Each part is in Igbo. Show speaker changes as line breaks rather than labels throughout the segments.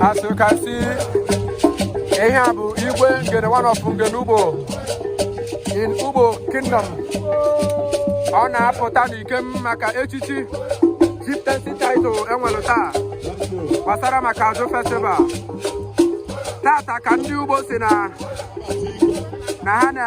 As you can see, ihe a bụ igwe ngene one of ngene ugbo in ugbo kingdom ọ na-apụta n'ikem maka echichi chieftaincy title enwere taa gbasara maka ajụ festival taata ka ndị ugbo si na na ha na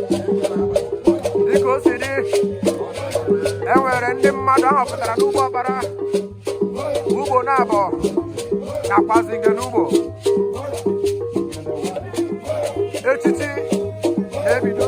dịka o si dị e nwere ndị mmadụ a họpụtara n'ugbo ọkpara ugbo nabọ nakwazi ngene ugbo echichi na-ebido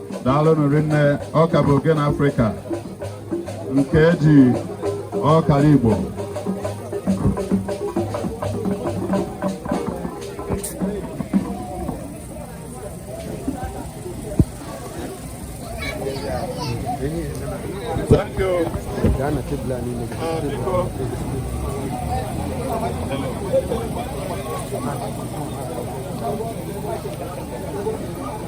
daalụnụ rinne ọ ka bụ ogene afrịka nke eji ọkara igbo Thank you. Uh,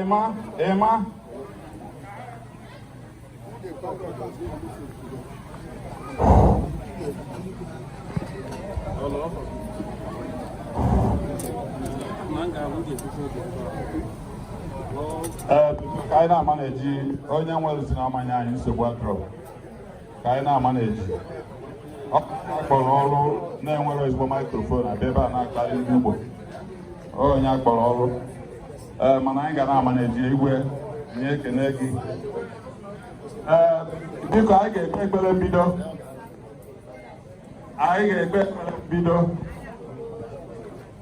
Ema, Ema. Hello. Manga, we get to ka anyị na-amanage onye nwere si na-amanye anyị nsogbu adọrọ ka anyị na-amanage a kpọrọ ọrụ na-ewere ezigbo maikrofon abịa ebe a na-akparị ndị Igbo onye a kpọrọ ọrụ ee eh, mana anyị ga na-amanage igwe nye ekene gị ee eh, biko anyị ga-ekpe ekpere mbido anyị ga-ekpe ekpere mbido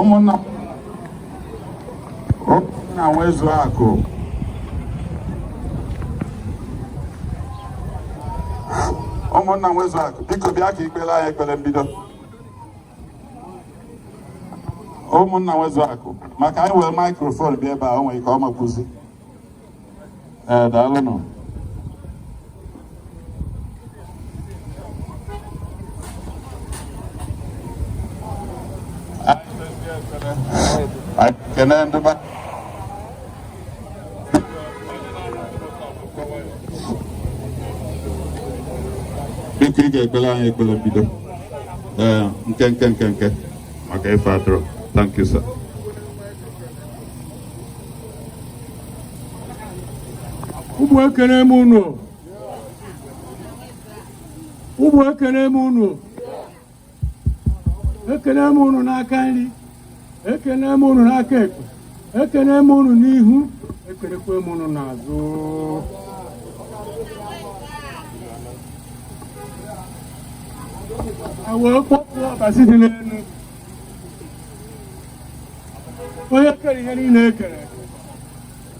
ụmụnna nwezu akụ ụmụnna nwezu akụ biko bịa ka i kpeere anyị ekpere mbido ụmụnna nwezu akụ maka anyị were maikrofon bịa ebe a o nwere ike ọ ma ekwuzi ee daalụnụ ekene ndị be biko ị ga-ekpeere anyị ekpere mbido ee nke nke nke nke maka ife atụrụ thank you sir ụmụ ekene m unu ụmụ ekene m unu ekene m unu n'aka nri ekene m unu n'aka ekpe ekene m unu n'ihu ekenekwe m unu n'azụ a wee kpọkuo ọbasi dị n'elu onye kere ihe niile e kere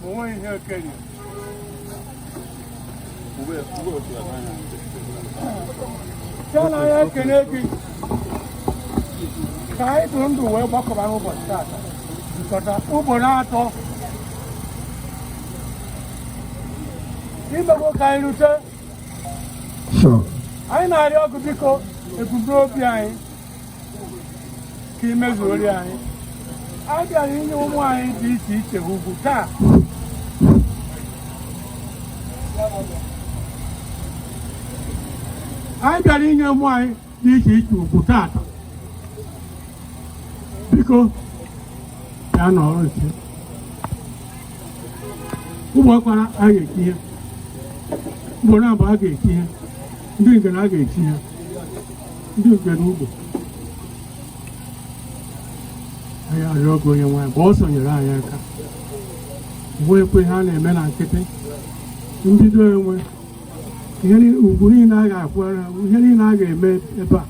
ma o nwe ihe kere ya chi nna anyị ekene gị ka anyị dị ndụ wee gbakọba n'ụbọchị taata jikọta ugbo ọnụ atọ i mego ka anyị rute anyị na-arịọ gị biko ebumnobi anyị ka i mezuori anyị anyị bịara inye ụmụ anyị dị iche iche ugwu taa anyị bịara inye ụmụ anyị dị iche iche ugwu taata biko bịa nọrọ nche ugbo ọkpara a ga-echi ha ugbonabọ a ga-echi ha ndị ngene a ga-echi ha ndị ngene ugbo anyị arịọ gị onye nwe anyị gbaa ọsọ nyere anyị aka o nwekwe ihe na-eme na nkịtị mbido enwe ihe ni- ugwu niile a ga-akwara ihe niile a ga-eme ebe a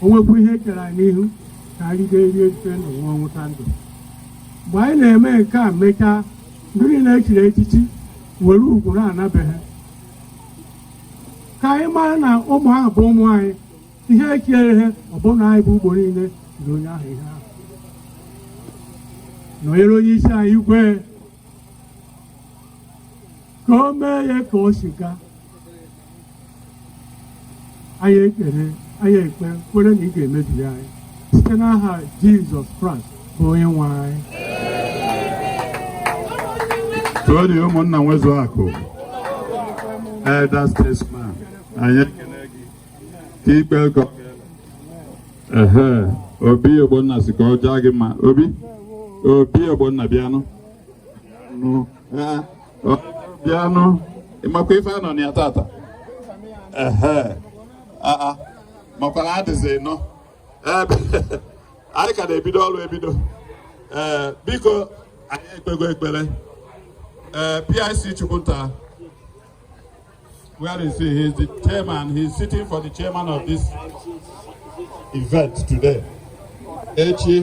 o nwekwa ihe kere anyị n'ihu ka anyị ga-erie rite ndụ ṅụọ ṅụta ndụ mgbe anyị na-eme nke a mechaa ndị niile e chiri echichi were ugwu naa na be ha ka anyị mara na ụmụ ahụ bụ ụmụ anyị ihe ekiere ihe ọbụna anyị bụ ugbo niile na onye ahụ ihe ahụ nọnyere onye isi anyị igwe ka o mee ya ka o si gaa anyị ekpere anyị ekpe kwere na ị ga-emebere anyị site n'aha jizọs kraịst onye nwe anyị too dị ụmụnna nwezu akụ elder statesman anyị ekele gị ka ikpe ụkọ ehe obi ogbonna sị ka ọ jaa gị mma obi obi ogbonna bịanụ nụ ee ọ bịanụ ị makwa ife a nọ na ya tata ehe aa makwara adịzi nọ anyị ka na-ebido ọrụ ebido ee biko anyị ekpego ekpere ee PIC Chukwunta where is he? He is the chairman. He is sitting for the chairman of this event today. Echi,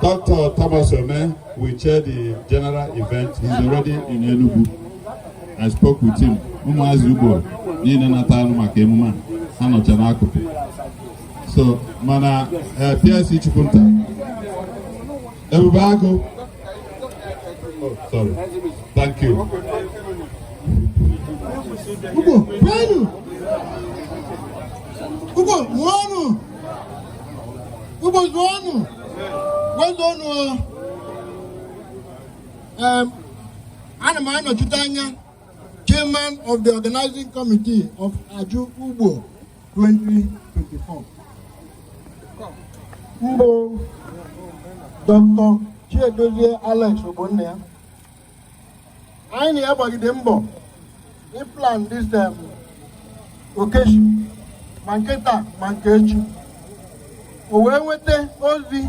Dr. Thomas Ome will chair the general event. He's already in Enugu. I spoke with him ụmụazị Ugbo niile natara maka emume a ha nọcha n'akụkụ so mana eh, PIC Chukwunta Ebube Agụ oh, sorry thank you Ugbo kwenu Ugbo zụọnụ Ugbo zụọnụ kwezuonụ o ana m anọchite anya chairman of the organizing committee of Aju Ugbo 2024 mbụ Dr. Chiedozie Alex Ogbonnia anyị na ya gbagide mbọ ịplan this um, occasion ma nke taa ma nke echi o wee nweta ozi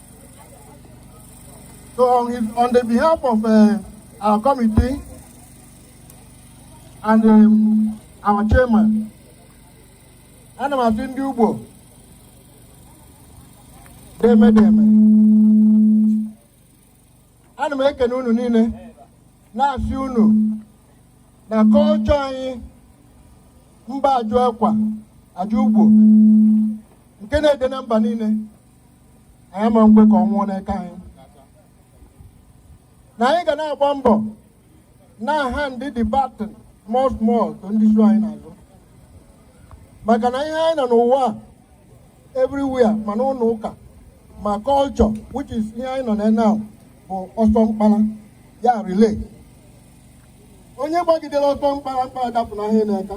So on, his, on the behalf of uh, our committee and um, our chairman, ana m asị ndị Ugbo deeme deeme ana m ekene unu niile na-asị unu na culture anyị mbụ Ajụ akwa Ajụ Ugbo nke na-ede na mba niile anyị ama ekwe ka ọ nwụọ n'aka anyị na anyị ga na-agba mbọ na-ahandị the baton more smoothly to ndị so anyị n'azụ maka na ihe anyị nọ n'ụwa a everywhere ma n'ụlọ ụka ma culture which is ihe anyị nọ na now bụ ọsọ mkpara ya relay onye gbagidere ọsọ mkpara mkpara dapụnahụ ya n'aka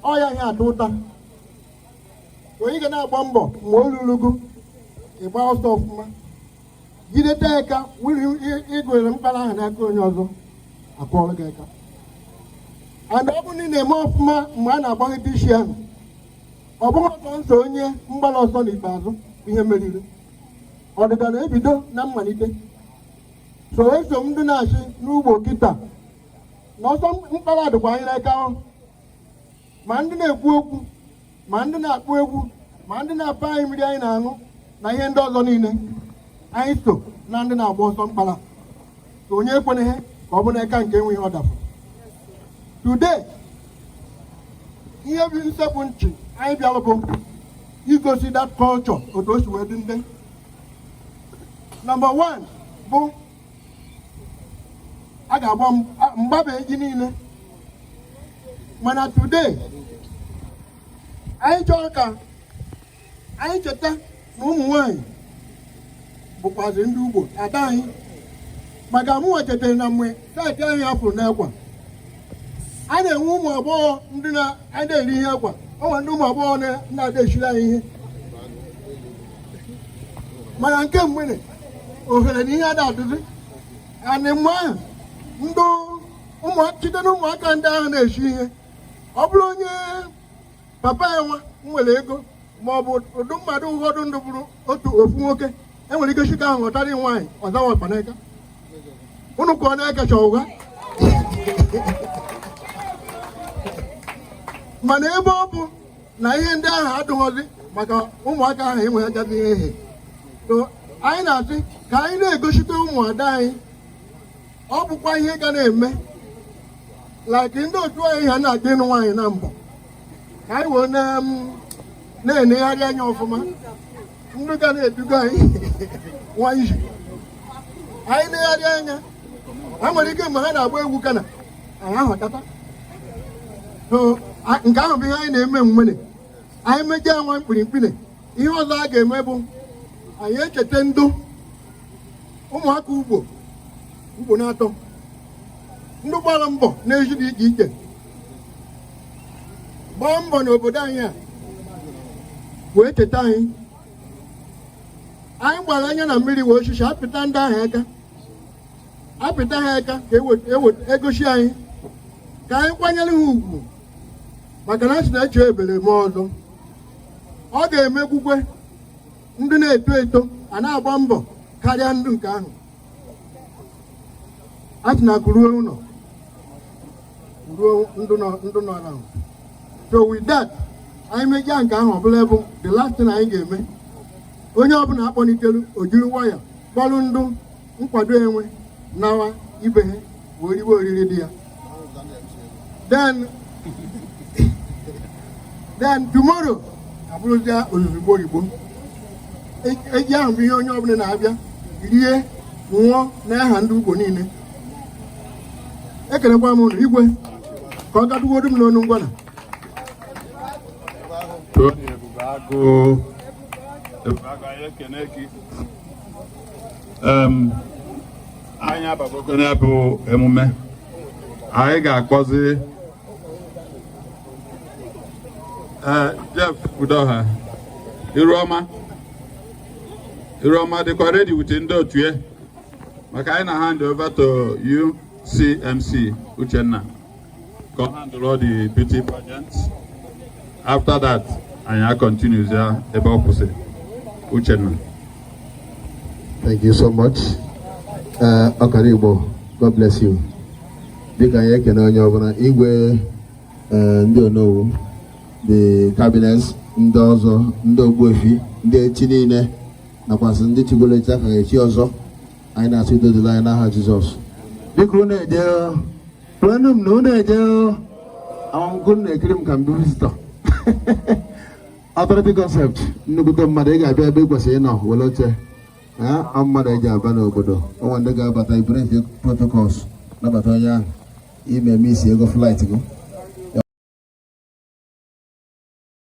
ọ ya a ga-ata ụta onye ga na-agba mbọ mgbe o ruru gị ịgba ọsọ ọfụma jideta aka were ịgụnyere mkpara ahụ n'aka onye ọzọ a kụọrọ gị aka and ọ bụrụ na ị na-eme ọfụma mgbe a na-agbaghị dishi ahụ ọ bụghị ụta nsọ onye mgbara ọsọ n'ikpeazụ ihe mmeri na ọdịda na-ebido na mmalite so asị m ndị na-achị n'Ugbo kịta na ọsọ mkpara dịkwa anyị n'aka ma ndị na-ekwu okwu ma ndị na-akpọ egwu ma ndị na-apa anyị mmiri anyị na-aṅụ na ihe ndị ọzọ niile anyị so na ndị na-agba ọsọ mkpara so onye ekweneghị ka ọ bụ n'aka nke enweghị ọ dapụ today ihe bụ nsepụ nchi anyị bịara bụ igosi that culture otu o si wee dị ndị number one bụ a ga-agba mgbaba eji niile mana today anyị chọrọ ka anyị cheta na ụmụ nwanyị bụkwazi ndị ugbo ada anyị maka mụnwa chetara na mgbe saịtị anyị hapụrụ n'ekwa a na-enwe ụmụ agbọghọ ndị na-ada eri ihe akwa ọ nwere ndị ụmụ agbọghọ na-ada eshiri anyị ihe mana nke mgbede ohere na ihe ada adịzi anị mgbe ahụ ndị ụmụaka site na ụmụaka ndị ahụ na-eshi ihe ọ bụrụ onye papa ya nwa nwere ego ma ọ bụ ndị mmadụ ụfọdụ ndụ bụrụ otu ofu nwoke enwere ike si ka ahụ họtara nwaanyị ọzawa ọkpanaka unu ka ọ na-ekecha ụgha mana ebe ọ bụ na ihe ndị ahụ adịghọzi maka ụmụaka ahụ enwe agaghị ehe so anyị na-asị ka anyị na-egosite ụmụada anyị ọ bụkwa ihe ga na-eme like ndị otu anyị ha na-adị ịnụ nwaanyị na mbụ ka anyị wee na-enegharị anya ọfụma ndị ga na-eduga anyị nwa iji anyị negharị anya ha nwere ike mgbe ha na-agba egwu kana anyị ahụtata nke ahụ bụ ihe anyị na-eme nwere anyị mejaa nwa mkpirimkpiri ihe ọzọ a ga-eme bụ anyị echeta ndụ ụmụaka ugbo ugbo na-atọ ndị gbara mbọ n'ezi dị iche iche gbaa mbọ n'obodo anyị a wee cheta anyị anyị gbara anya na mmiri wee osisi apịta ndị ahụ aka apịta ha aka ka egosi e e anyị ka anyị kwanyere ha ugwu maka na a sị na-eche ebere m ọzọ ọ ga-emekwukwe ndị na-eto eto a na-agba mbọ karịa ndụ nke ahụ a sị na akụ ruo ụlọ ruo ndụ nọ ndụ nọ na so with that anyị mejaa nke ahụ ọbụla bụ the last thing anyị ga-eme onye ọbụla akpọlitelu ojiri waya kpọrụ ndụ nkwado enwe nawa ibe ha wee riwe oriri dị ya then then tomorrow abụrụzia ozugbo oyibo eji ahụ bụ ihe onye ọbụla na-abịa rie ṅụọ n'aha ndị ugbo niile ekenekwa m unu igwe ka ọ gadugodu m n'ọnụ ngwana anyị abagogo n'ebe emume anyị ga-akpọzi eh, Jeff Udoha Iruoma Iruoma dịkwa ready with ndị otu ya maka anyị na hand over to UCMC Uchenna Come handle all the beauty pageants. After that, anyị a-continue ya ebe ọ kwụsịrị. Uchenna. Thank you so much. Uh, Ọkara Igbo, God bless you. Dịka anyị ekene onye ọbụla igwe uh, ndị onowu, the cabinets, ndị ọzọ, ndị ogbuefi, ndị ichie niile, nakwasị ndị chigolo echi aka echi ọzọ. anyị na-asị udo dịlị anyị n'aha Jizọs dịka unu eje kwenụ m na unu eje amamgụ na-ekiri m ka m bụ visitọ authority concept nnukwute mmadụ ị ga-abịa ebe ị kwesịrị ịnọ were oche ọ mmadụ eji aba n'obodo o nwe ndị ga-abata ebreak protocols nabata onye ahụ ị missiego flight gị